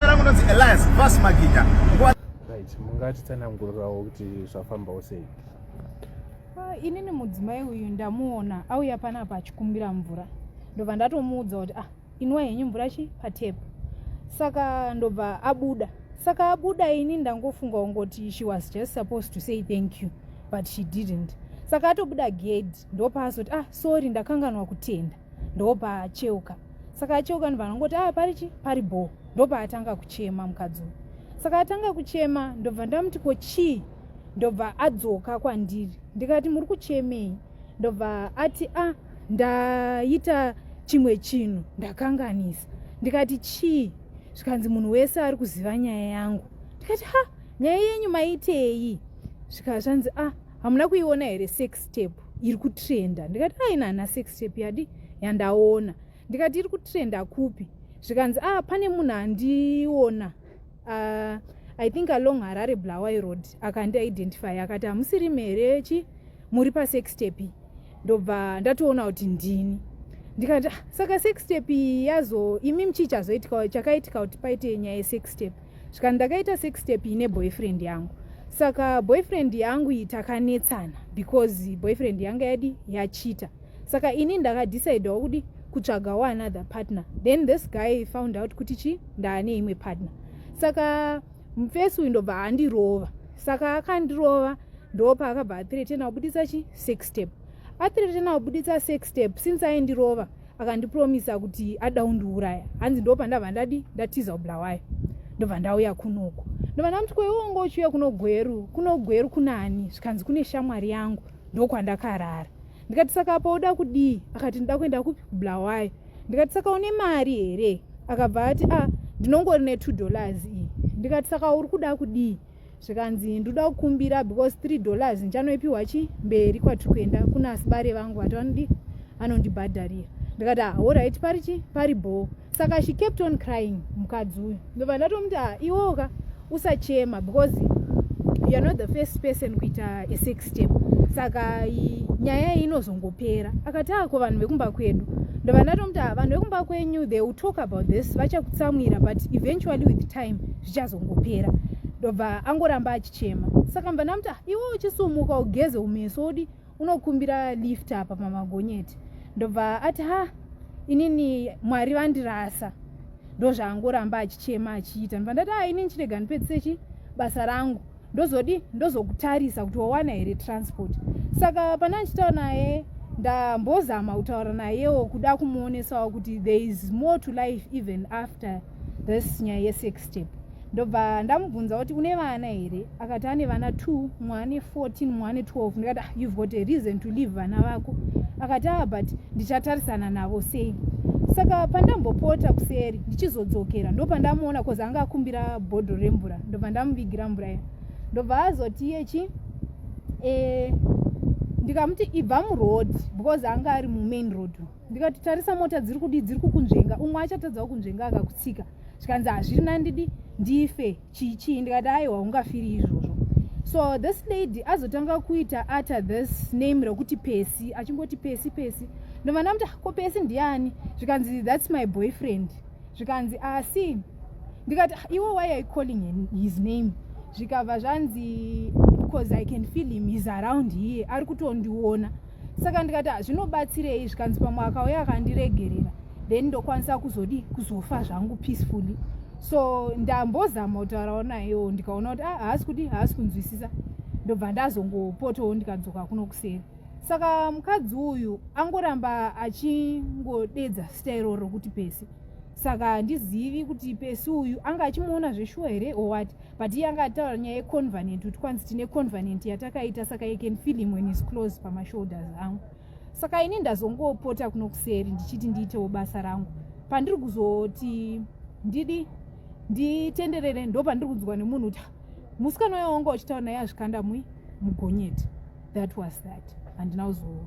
rangu nonzi Elias Vas Maginya right mungatitsanangurirawo kuti zvafambawo sei ah, inini mudzimai uyu ndamuona auya panapa achikumbira mvura ndobva ndatomuudza kuti ah inwa henyu mvura chi patepu saka ndobva abuda saka abuda ini ndangofunga ungoti she was just supposed to say thank you but she didn't saka atobuda gedhi ndopaazoti ah sorry ndakanganwa kutenda ndobva acheuka saka acheuka ndobva anongoti aa ah, pari chi pari bhoo ndobva atanga kuchema mukadzi uyu saka atanga kuchema ndobva ndamuti ko chii ndobva adzoka kwandiri ndikati muri kuchemei ndobva ati a ah, ndaita chimwe chinhu ndakanganisa ndikati chii zvikanzi munhu wese ari kuziva nyaya yangu ndikati ha nyaya yenyu maitei zvikazvanzi a ah, hamuna kuiona here sex step iri kutrenda ndikati aina hana sex step yadi yandaona ndikati iri kutrenda kupi zvikanzi a ah, pane munhu andiona uh, i think along harare blawai road akandi identify akati hamusiri mere chi muri pasex step ndobva ndatoona kuti ndini ndikati ah, saka sex step yazo imi mchii chazoitika chakaitika kuti paite nyaya yesex step saka ndakaita sex step ine boyfriend yangu saka boyfriend yangu iyi takanetsana because boyfriend yanga yadi yachita saka ini ndakadecidewa kudi kutsvaga waanother partner then this guy found out kuti chi ndaane imwe partner saka mfesi uyu ndobva andirova saka akandirova ndopa akabva athiretena kubudisa chi sex step athiretena kubudisa sex step since aindirova akandipromisa kuti ada undiuraya hanzi ndo pandabva ndadi ndatiza ubulawayo ndobva ndauya kunoku ndobva ndamuti kwewongo uchiuya kuno gweru kuno gweru kunani zvikanzi kune shamwari yangu ndokwandakarara ndikati saka apa uda kudii akati ndida kuenda kupi kubulawayo ndikati saka une mari here akabva ati a ah, ndinongori ne two dollars iyi ndikati saka uri kuda kudii zvikanzi ndoda kukumbira because three dollars ndichanoipiwa chi mberi kwatiri kuenda kuna asibare vangu vati vanodi anondibhadharira ndikati ahorit ah, pari chi pari bhoo saka she kept on crying mukadzi uyu ndobva ndatomuti ah, iwoka usachema because you're not the first person kuita a sex step saka nyaya iyi inozongopera akati ako ah, vanhu vekumba kwedu ndobva ndatomuti ah, vanhu vekumba kwenyu they will talk about this vachakutsamwira but eventually with time zvichazongopera ndobva angoramba achichema saka mva ndamuti ah, iwe uchisumuka ugeze umeso odi unokumbira lift apa pamagonyeti ndobva ati ha inini mwari vandirasa ndozvaangoramba achichema achiita ndobva ndati a ah, inini chirega ndipedzise chi basa rangu ndozodii ndozokutarisa kuti wawana here transport saka pane achitaura naye ndambozama kutaura nayewo kuda kumuonesawo kuti there is more to life even after this nyaya yesex step ndobva ndamubvunza kuti une vana here akati ane vana two mwane 14 mwane 12 ndikati ah, you've got a reason to leave vana vako akati aa ah, but ndichatarisana navo sei saka pandambopota kuseri ndichizodzokera ndopandamuona bcause anga akumbira bhodho remvura ndobva ndamuvigira mvura iya ndobva azoti iye chi eh, ndikamuti ibva muroad because anga ari mumain road ndikati tarisa mota dziri kudii dziri kukunzvenga umwe achatadzawo kunzvenga akakutsika zvikanzi hazviri nandidi ndife chii chii ndikati aiwa ungafiri izvozvo so this lady azotanga kuita utter this name rekuti pesi achingoti pesi pesi ndovanamta ko pesi ndiani zvikanzi thats my boyfriend zvikanzi asi ah, ndikati ah, iwe why are calling his name zvikabva zvanzi because i can feel him is around here ari kutondiona saka ndikati ah, zvinobatsirei zvikanzi pamwe akauya akandiregerera then ndokwanisa kuzodi kuzofa zvangu peacefully so ndambozama kutaurawo nayewo ndikaona kuti ah, haasi kudi haasi kunzwisisa ndobva ndazongopotowo ndikadzoka kuno kuseri saka mukadzi uyu angoramba achingodedza sita iroro rokuti pesi saka handizivi kuti pesi uyu anga achimuona zveshuwa here or what but iye anga ataura nyaya yeconvenient kuti kwanzi tine convenient yatakaita saka i can feel him when is close pamashoulders angu saka ini ndazongopota kuno kuseri ndichiti ndiitewo basa rangu pandiri kuzoti ndidi nditenderere ndo pandiri kunzwa nemunhu kuti musikana uya wanga uchitaura naye azvikanda mui mugonyeti that was that handina kuzoona